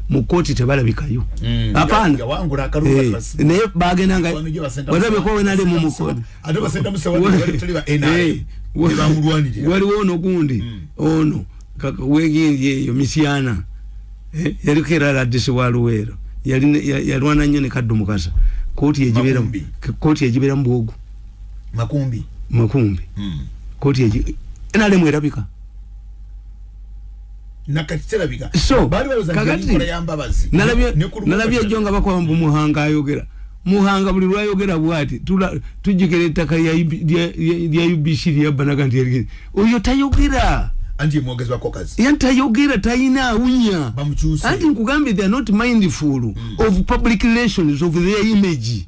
mu kkooti tebalabikayo mm. apana eh, naye bagenda nga watabyeko wenali mu mukoni eh, waliwo ono gundi mm. ono wegindi eyo misyana eh, yaliko era ladisi wa luweero yalwana nnyo ne kaddu mukasa kkooti egibeera mu bwogu makumbi makumbi mm. kkooti nalemu erabika nakakiterabika so kakati nalabye jo nga bakwaba mbu muhanga ayogera muhanga buli lwayogera bwati tujjukira ettaka lya ubc lyabbanaga nti oyo tayogera anti mwogezi wako kazi yanti ayogera tayina awunya bamukyuse anti nkugambye they are not mindful mm. of public relations of their image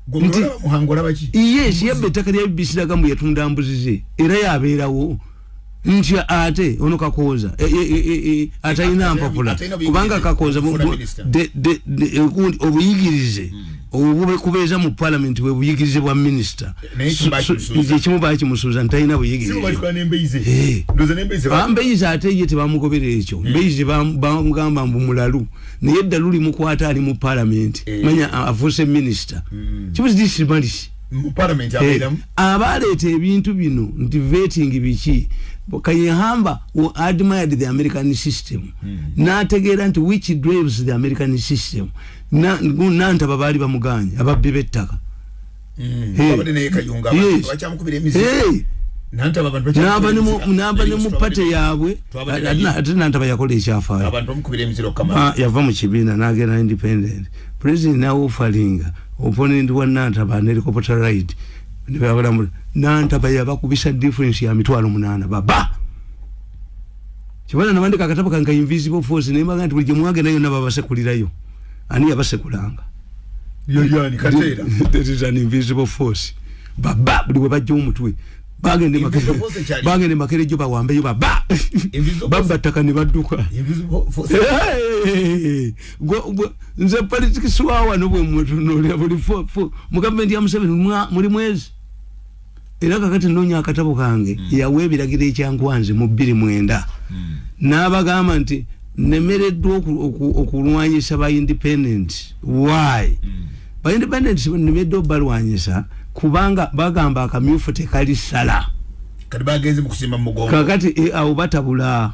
gumulaba muhangolaba ki yes yabbe ettaka lya bbc laga mbu yatunda mbuzi ze era yabeerawo nti ate ono kakooza e, e, e, atalina mpapula kubanga kakooza obuyigirize hmm. obubekubeeza mu palamenti bwe buyigirize bwa minisita ekimu bakimusuuza ntalina buyigirizeambeyizi ate ye tebamugobera ekyo hmm. mbeyizi bamugamba mbu mulalu naye eddalu limukwata ali mu palamenti eh. manya afuuse minisita hmm. kibuzi disimalisi parliament eh, abeeramu abaaleeta ebintu bino nti vetting biki kayehamba admired the american system hmm. n'ategeera nti which drives the american system nantaba baali bamuganye ababbi b'ettaka hmm. nava ne mu pate yaabwe ate nantaba yakola ekyafaayo ah, yava mu kibiina n'agenda independent president nawe ofalinga opponent wa nantaba ne helicopter ride ne babala mu nantaba ya bakubisa difference ya mitwalo munana baba kibana na mandika kataba kanga invisible force ne maganti buli mwage nayo na baba sekulira yo ani yabase kulanga yo yo ni katera that is an invisible force baba buli wabajja omutwe bagende makere bagende makere jo bawambe yo baba baba takani baduka invisible force nze politikisi wawano bwemutunulira buli mu gavumenti ya museveni muli mwezi era kakati nonya akatabo kange mm. yawa ebiragiro ekyankwanze mu bbiri mwenda mm. n'abagamba nti nemereddwa okulwanyisa ba independent why mm. ba independent nemereddwa obalwanyisa kubanga bagamba akamyufu tekali sala kakati eh, awo batabula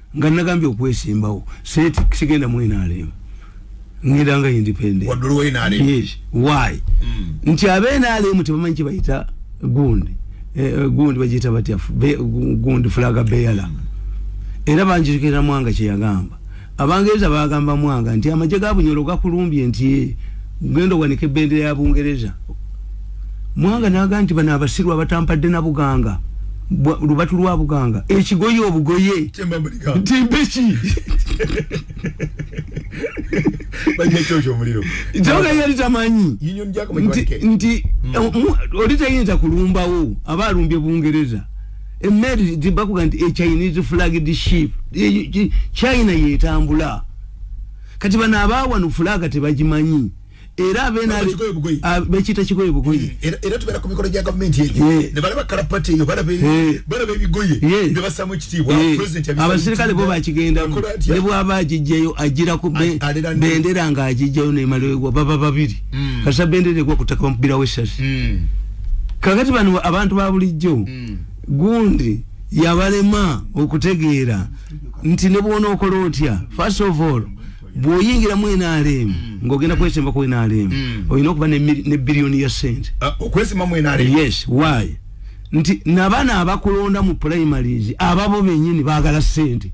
nga nagambye okwesimbawo sente sigenda mu nrm ngenda nga independent wadulu wa nrm yes why mm. nti abe nrm tebamanyi kibayita gundi eh, eh gundi bajita batya gundi flaga beyala mm. era banjirikira mwanga kyeyagamba abangereza bagamba mwanga nti amaje gabunyolo gakulumbye nti eh, gendo wanike bendera ya bungereza mwanga naga nti bana abasiru abatampadde na buganga lubatu lwa buganga ekigoye obugoye timbeki kyoga yali tamanyi nti hmm. eh, oli tayinza kulumbawo aba alumbye bungereza emmeeri zibakuga nti echinese flagged ship china yetambula kati bano abaawano fulaga tebagimanyi era abekita kigoye bugoye mm. era tubera ku mikolo gya gavumenti eyo ne balaba kalapati eyo balaba ebigoye ne basamu ekitiibwa abasirikale bo bakigendamu ne bwaba agijjayo ajira ku bendera nga agijjayo nemalewegwa baba babiri mm. kasa bendera egwa kutaka bamubira wesasi mm. kakati bano abantu ba bulijjo gundi yabalema okutegeera nti ne bwona okola otya first of all bwoyingira mu nrm mm. ngogenda kwesimba ku nrm mm. olina okuba ne biliyoni ya sente ah, okwesimba mu nrm yes why nti nabana abakulonda mu primaries ababo benyini bagala sente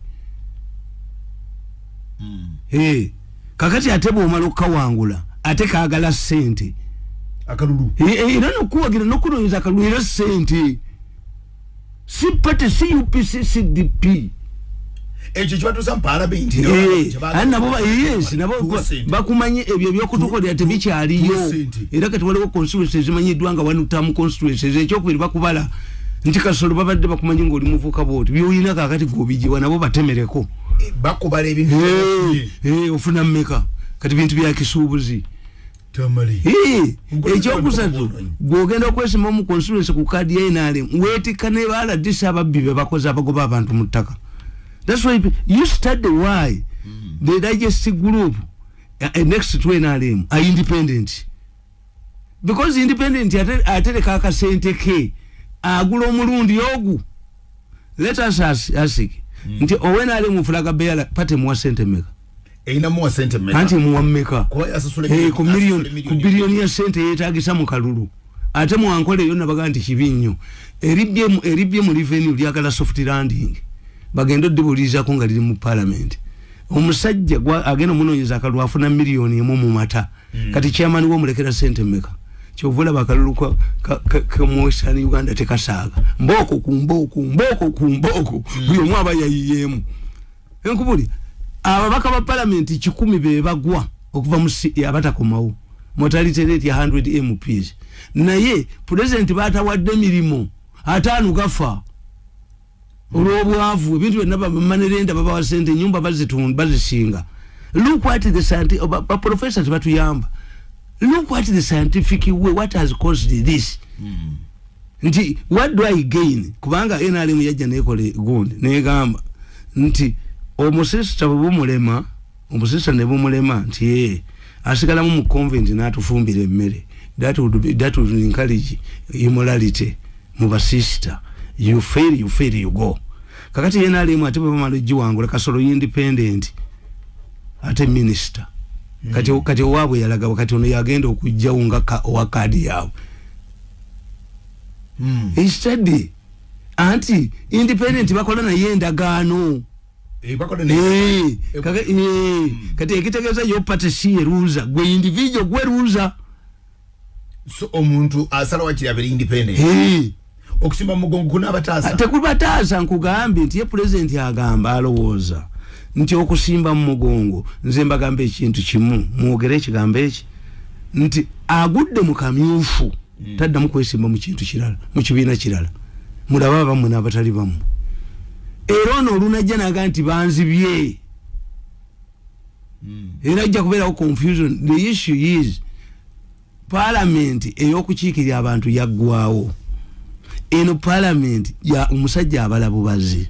mm. hey. Eh, kakati ate bwomala okukawangula ate kagala sente akalulu era eh, eh, nokuwagira nokunoyeza akalulu era sente si party si upc si dp ekyo kibatuusa mu palamenti bakumanyi ebyo ebyokutukolera tebikyaliyo era kati waliwo constituency ezimanyiddwa nga wanutamu constituency ekyokubiri bakubala nti kasolo babadde bakumanyi ngaoli muvuka bwoti byolina kakati gobijiwa nabo batemereko bakubala ebintu ofuna mumeka kati bintu byakisuubuzi ekyokusatu gwogenda okwesima omu constituency ku kadi ya nrm wetikka ne baladisi ababbi bebakoze abagoba abantu mu ttaka thats why you study why mm-hmm. the digest group uh, next to nrm are independent because independent atereka akasente ke agula omulundi ogu let us ask mm. nti owenrm ofulaga beyala pate muwa sente meka eyina muwa sente meka kanti muwa meka kwa ya sasule hey, ku million ku billion ya sente yetagisa mu kalulu ate mu ankole yona baganti kibinyo eribye eribye mu revenue lya kala soft landing bagendo dibuliza ko ngaliri mu parliament omusajja gwa ageno muno yiza kalwa afuna million yemu mu mata mm. kati chairman wo mulekera sente meka kyovula bakalulu kwa ka, ka, ka mwesani uganda tekasaga mboko ku mboko mboko ku mboko mm. buyo mwaba yayiyemu enkubuli ababaka ba palamenti kikumi bebagwa okuva mu e abatakomawo motality rate ya 100 mps naye pulezidenti batawadde emirimu ataano gafa olwobwavu ebintu byonna bamanerenda babawa sente enyumba bazitunda bazisinga look what the scientific oh, ba professors batuyamba look what the scientific way what has caused this mm. nti what do i gain kubanga nrm yajja nekola gundi negamba nti omusisita bwebumulema omusisita nebumulema nti ee asigalamu mu convent natufumbira emmere that would be that would encourage immorality mu basisita you fail you fail you go kakati nrm ate bwebamala ogiwangula kasolo independent ate minister kati mm. kati owabwe yalagawa kati ono yagenda okujjawo nga owa kaadi yaabwe mm. instead anti independent mm. bakola naye endagaano eh, eh, eh, hmm. kati ekitegeeza yo pate si eruuza gwe individual gwe ruuza so omuntu asala wakiri abere independent hey. okusimba mugongo kuna abataasa ah, tekubataasa nkugambye nti ye pulezidenti agamba alowooza nti okusimba mu mugongo nze mbagamba ekintu kimu mwogere ekigambo eki nti agudde mu kamyufu hmm. taddamu kwesimba mu kintu kirala mu kibiina kirala mulaba abamu n'abatali bamu era ono olunajja naga nti banzibye hmm. era ajja kubeerawo confusion the issue is palamenti ey'okukiikirira abantu yaggwawo eno palamenti ya omusajja abala bubazi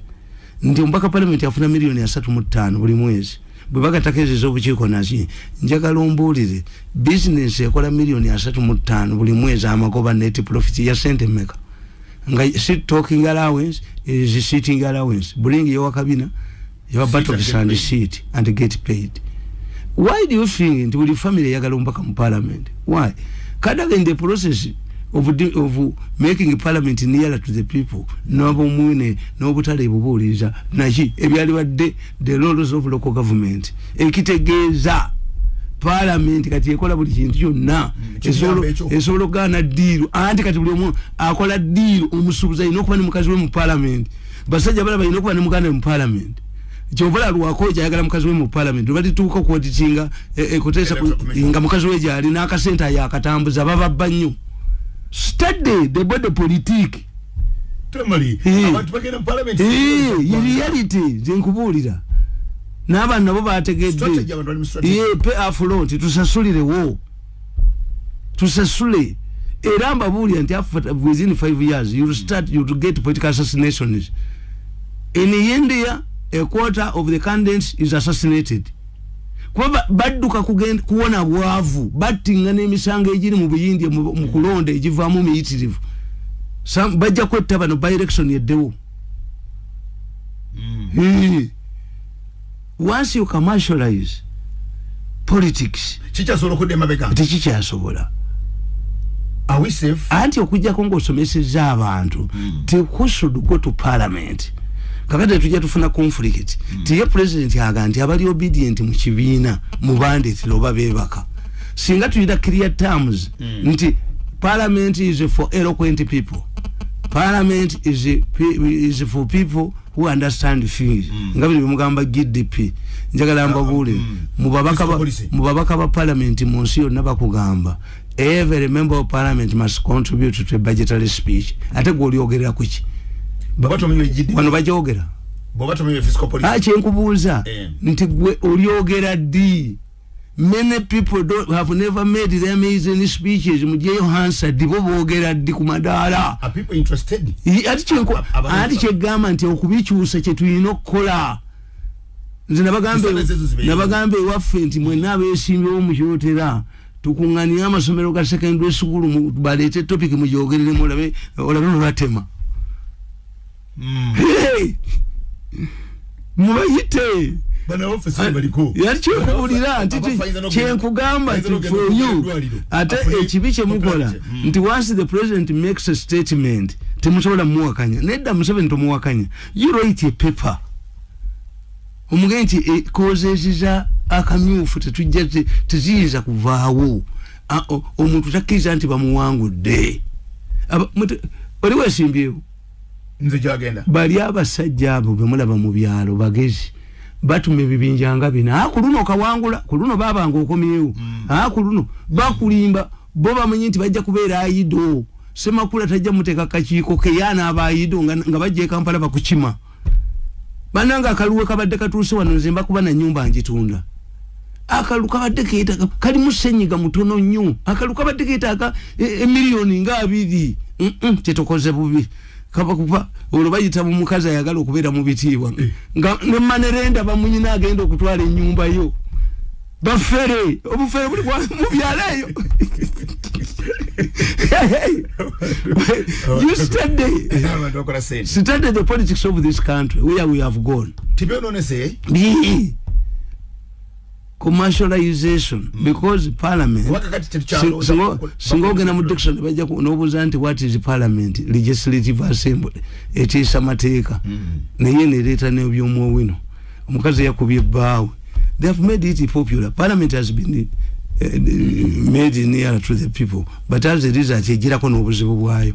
nti omubaka palamenti afuna miliyoni asatu mu ttaano buli mwezi bwe bagatako ezo ez'obukiiko naki njagala ombuulire bizinesi ekola miliyoni asatu mu ttaano buli mwezi amagoba neti profiti ya sente meka nga si talking allowance is sitting allowance bulingi yowa kabina yowa battle to stand seat and get paid why do you think nti buli family yagala ombaka mu parliament why kada in the process of, of making parliament nearer to the people nabomwine nobutale ebubuuliza naki ebyali badde the laws of local government ekitegeeza parliament kati ekola buli kintu kyonna mm, esobola okugaana diiru anti kati buli omu akola diiru omusuubuzi alina okuba ne mukazi we mu parliament basajja bala balina okuba ne muganda we mu parliament kyovola lwako kyayagala mukazi we mu parliament lwebalituuka okuwatitinga eh, eh, kutesa nga mukazi we gyali n'akasente ayo akatambuza bababba nnyo study the body politique temali eh. abantu bagenda mu parliament reality nze nkubuulira n'abantu nabo bategedde pe afulonti tusasulirewo tusasule era mbabuulira nti after within five years you'll start you to get political assassinations in india a quarter of the candidates is assassinated kuba badduka kuwona bwavu battinga n'emisango egiri mu buyindi mu kulonda egivaamu miyitirivu bajja kwetta bano by election eddewo mm. once you commercialize politics kikyasobola okudda emabega tekikyasobola anti okujjako ngaosomeseza abantu mm. tekusud go to parliament kakati tujja tufuna conflict mm. tiye president aga nti abali obedient mu kibiina mu bandit loba bebaka singa tuyita clear terms mm. nti parliament is for eloquent people parliament is, is for people who understand things mm. nga bino bimugamba GDP njagala mbabule mm. mubabaka ba, mubabaka ba parliament mu nsi yonna bakugamba every member of parliament must contribute to the budgetary speech ate gwe olyogerera ku ki wano bagyogera ah, kyenkubuuza eh. nti gwe olyogera ddi many people don't have never made their amazing speeches mujeyo hansa dibo bogera di ku madaala ati kyegamba nti okubikyusa kyetulina okukola nze nabagamba ewaffe nti mwena abesimbyewo mukyotera tukunganire amasomero ga secondary school baleete topic mujogereremu olabe olabe nolatema mm. hey! mubayite yalikyokuwulira nti kyenkugamba nti for you ate ekibi kyemukola hmm. nti once the president makes a statement temusobola muwakanya nedda museveni tomuwakanya you write a paper omugee nti eh, kozeziza akamyufu tetujja teziyinza kuvaawo omuntu takkiriza nti bamuwangudde oli wesimbyewo nze gyagenda bali abasajja abo bemulaba mu byalo bagezi batuma ebibinja nga bina ah, ku luno kawangula ku luno babanga okomyewo mm. ah, ku luno bakulimba bo bamanyi nti bajja kubeera ayido semakula tajja muteeka kakiiko keyaana aba ayido nga bajja ekampala bakukima bananga akaluwe kabadde katuuse wano nze mbakuba na nyumba njitunda akalulu kabadde keetaaga kali musenyiga mutono nnyo akalulu kabadde keetaaga emiliyoni e nga abiri kyetukoze bubi kaba kuba olwo bayita mu mukazi ayagala okubeera mu bitiibwa eh. nga ne manerenda bamunyina agenda okutwala ennyumba yo bafere obufere buli mu byalo eyo you study study the politics of this country where we have gone tibyononese bii commercialization mm. because parliament singa ogenda mu dictionary bajja nobuuza nti what is parliament legislative assembly etiisa mateeka mm. naye nereeta nebyomwowino omukazi yakubye bbaawe they have made it popular parliament has been uh, made near to the people but as a result ejirako n'obuzibu bwayo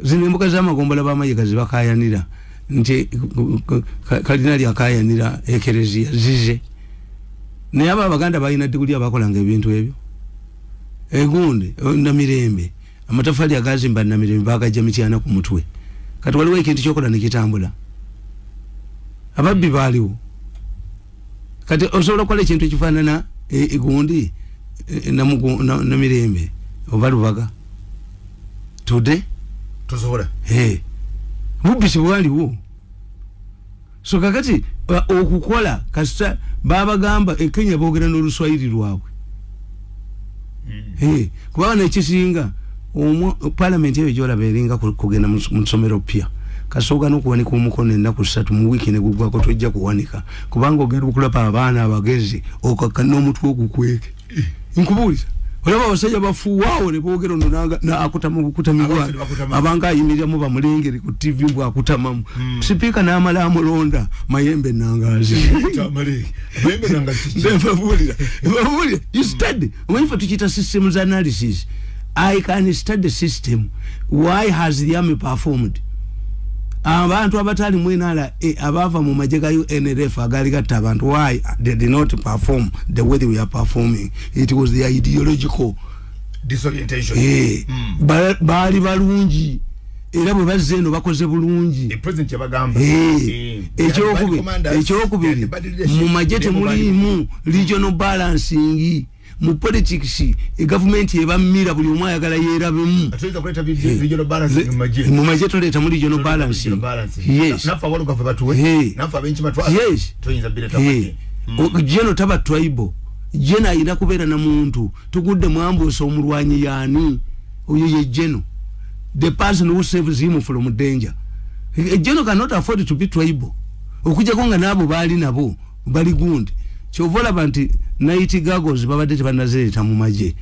zino embuga z'amagombola ba mayiga zibakayanira nti kalina lyakayanira ekereziya zize naye abo abaganda balina diguli abakolanga ebintu ebyo egundi eh, namirembe amatafali agazimba namirembe bagajja mityana ku mutwe kati waliwo ekintu kyokola nekitambula ababbi baaliwo kati osobola okukola ekintu ekifaanana egundi eh, eh, namirembe oba lubaga today tosobola eh mubbi sibwaliwo so kakati uh, okukola kasita babagamba e Kenya bogera no luswahili lwabwe mm. eh kuba na chisinga omu parliament yewe jola beringa kugenda musomero pia kasoga no kuwanika omukono enda ku satu mu wiki ne gugwa ko tojja kuwanika kubanga ogenda okulapa abaana abagezi okakana omutwe ogukweke nkubuuliza olaba abasajja bafuwaawo ne boogera ono n'akutama okukutamibwa abanga ayimiriamu bamulengere ku tv mbw akutamamu hmm. sipiika n'amala amulonda mayembe nangaazi babuulira babuulira you study omanyi fe tukiyita systems analysis i can study system why has the army performed abantu abatali mu nra abava mu maje ga unrf agali gatta abantu why they did not perform the way they were performing it was the ideological disorientation eh mm. baali balungi era bwe bazze eno bakoze bulungi ekyokubiri mu magye temuliimu regional balancing mu politics e government e bamira buli omu ayagala yerabemu ateza kuleta eh, regional balance mu maje mu maje tuleta mu regional balance yes nafa walu kafa batu we eh. nafa benchi batu yes tuinza bila tabati eh. jeno taba twaibo jena ina kubera na muntu tukude mwambo so murwanyi yani oyo ye jeno the person who saves him from danger jeno cannot afford to be twaibo okujja konga nabo bali nabo bali gundi kyova olaba nti night gagos babadde tebanazereta mu magye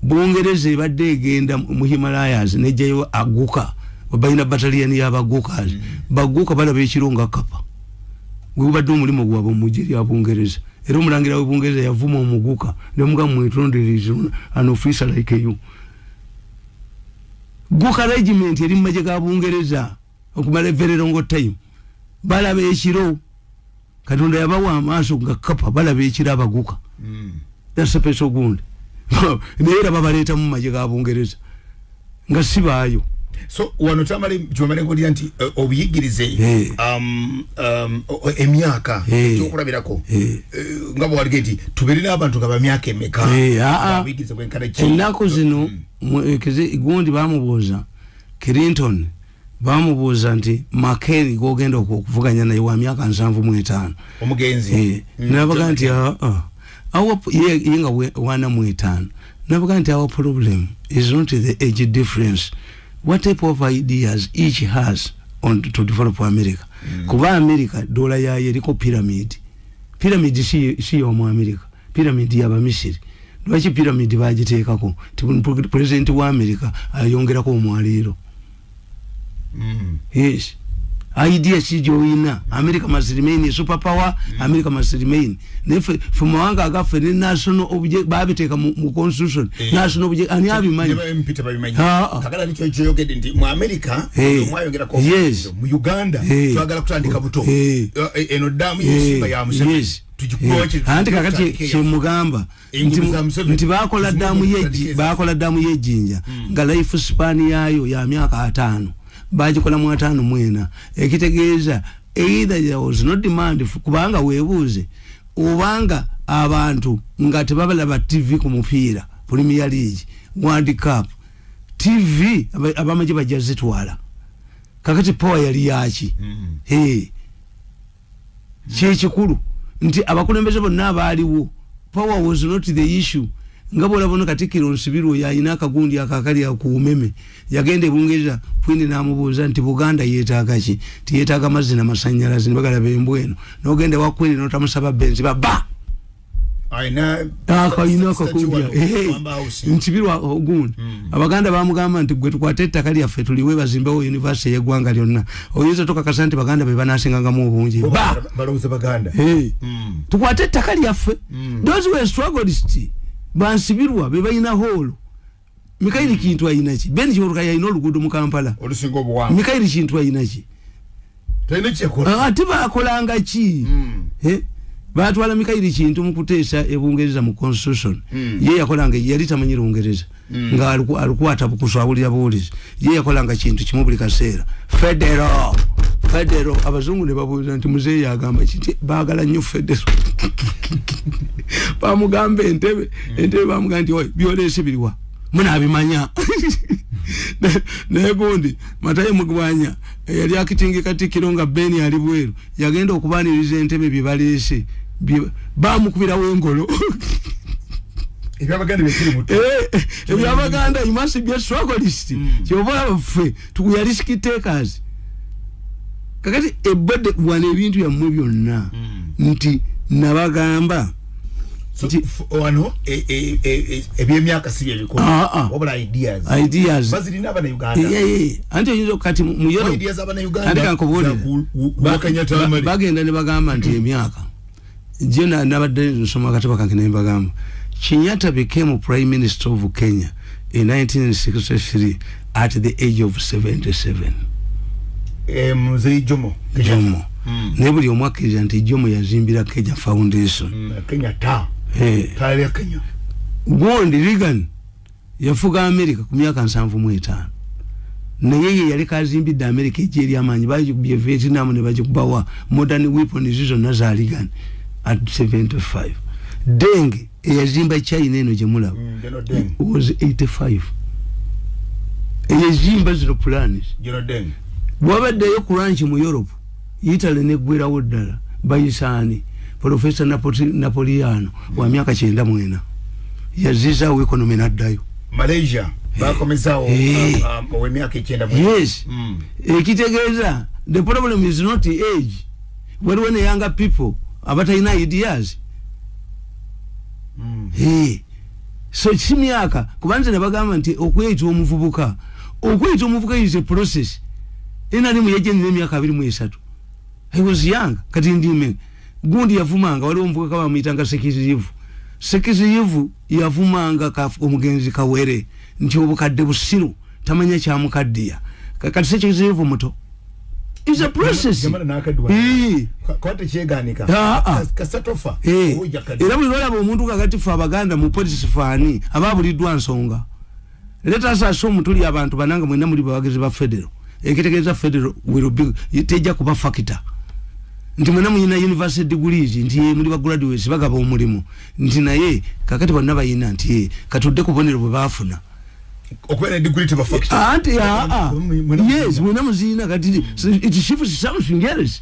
bungereza ebadde egenda mu himalayas nejjayo aguka balina batalian yabagukas mm. baguka balaba ekiro nga kapa gwebadde omulimu gwabwe mumugye lya bungereza era omulangira we bungereza yavuma omuguka nemuga mwetonderiz an officer like you guka regiment eri mumagye ga bungereza okumala evererongo time balaba ekiro katonda yabawa amaaso nga kapa balaba ekira abaguka mm. dasepesa ogundi naye era babaleeta mu maje ga bungereza nga si baayo so wano tamale kyomale nkulira nti uh, obuyigirize hey. Eh. um, um, emyaka hey. ekyokulabirako hey. uh, eh, nga bwalige nti tuberera abantu nga bamyaka emeka hey, ah, ah. obuyigirize bwenkana ennaku zino mm. gundi bamubuuza clinton bamubuuza nti makeri gogenda okuvuganya naye wa myaka nsanvu mu etaano omugenzi eh, mm, nabaga nti ah, ah. ye nga wana mu etaano nabaga nti our problem is not the age difference what type of ideas each has on to develop america mm. kuba america dola yayo eriko pyramid piramidi si yomu amerika piramidi yabamisiri lwaki piramidi bagiteekako ti pulezidenti wa amerika ayongerako omwaliiro mm. yes idea si gyoyina america must remain a super power mm. america must remain naye fe mawanga agaffe ne national obje babiteeka mu constitution eh. national obje ani abimanyi ah, ah. yes mu Uganda hey. twagala kutandika buto hey. uh, eh, eno damu hey. yesimba ya museveni yes. tujikuwache anti kakati chemugamba nti bakola damu yeji bakola damu yejinja mm. nga life span yayo ya miaka atano bajikola mu atano mwena ekitegeeza either there was no demand kubanga webuuze obanga abantu nga tebabalaba tv ku mupiira premier league world cup tv abamaje bajja zitwala kakati power yali yaki mm. hey. kyekikulu nti abakulembeze bonna abaaliwo power was not the issue nga bwolabona katikiro nsibirwa oyo alina akagundi akakali akuumeme yagenda ebungereza kwindi namubuuza nti buganda yetaaga ki tiyetaaga mazzi namasanyalazi nibagala bembweno nogenda wakwindi notamusaba benzi baba akayina akakumbya nkibirwa ogundi hmm. abaganda bamugamba nti gwe tukwate ettaka lyaffe tuliwe bazimbewo univesity yeggwanga lyonna oyinza tokakasa nti baganda bebanasingangamu obungi hmm. tukwate ettaka lyaffe hmm. those were struggled bansibirwa bebalina hoolo mikairi kintu ayinaki ben kyoruka yayina oluguudo mu kampala olusinga obuwanvu mikairi kintu ayinaki ah, ate bakolanga ki hmm. eh? batwala mikairi kintu mukuteesa ebungereza mu constitution hmm. ye yakolanga yali tamanyi lungereza hmm. nga alikwata bukuswabulira buwulizi ye yakolanga kintu kimu buli kaseera federo federo abazungu ne babuuza nti muzeeyi agamba kiti baagala nnyo federo bamugamba entebe hmm. entebe bamugamba nti oy byoleese biriwa munabimanya naye gundi matayo mugwanya eyali akitingika tikiro nga beni ali bweru yagenda okubaniriza entebe bye baleese bamukubirawo engolo ebyabaganda eh, eh, imasi bya strugglist hmm. kyova olaba ffe tukuya risk takers kakati ebade wana ebintu yammwe byonna hmm. nti nabagamba wano e, e, e, ebyemyaka si byebikola ah, ah. wabula ideas ideas bazirina abana uganda anti oyinza okati mu yero ideas abana uganda andika nkubuulire bagenda ne bagamba nti emyaka jena nabadde nsoma akatabo kange ne mbagamba kinyata became prime minister of kenya in 1963 at the age of 77 eh, mzee jomo jomo mm. ne buli omu akkiriza nti jomo yazimbira kenya foundation mm, kenya ta eh. tale kenya gondi regan yafuga america ku myaka nsanvu mu etaano naye ye yali kazimbidde america egyeri amaanyi bagikubye vietnam ne bagikubawa modern weapons zona za regan at 75 denge eyazimba china eno gyemulaba mm, was 85 eyezimba zino planes bwabaddeyo ku ranch mu europe italy neggwerawo ddala bayisaani profesa napoliano wa myaka kyenda mwena yazizawo economy naddayo malaysia bakomezawo eh. um, um, owemyaka ekyenda yes mm. ekitegeeza the problem is not age waliwo ne younger people abatalina ideas mm. hey. so si myaka kuba nze nebagamba nti okweyita omuvubuka okweyita omuvubuka is a process enalimu yajenina emyaka abiri mu esatu i was young kati ndime gundi yavumanga waliwo omuvubuka bamuyitanga sekizirivu sekizirivu yavumanga omugenzi kawere nti obukadde busiru tamanya kyamukaddiya kakati sekyezeevu muto is a process era buli lwolaba omuntu kakati fe abaganda mu polisi faani aba buliddwa nsonga let us assume tuli abantu bananga mwena muli bawagizi ba federal ekitegeeza federal will be tejja kuba factor nti mwena muyina university degrees nti ye muli ba graduates bagaba omulimu nti naye kakati bonna bayina nti ye katudde kubonero bwe baafuna okubeera degree teba factor anti ah, ah. yes mwena muziyina kati it shifts something else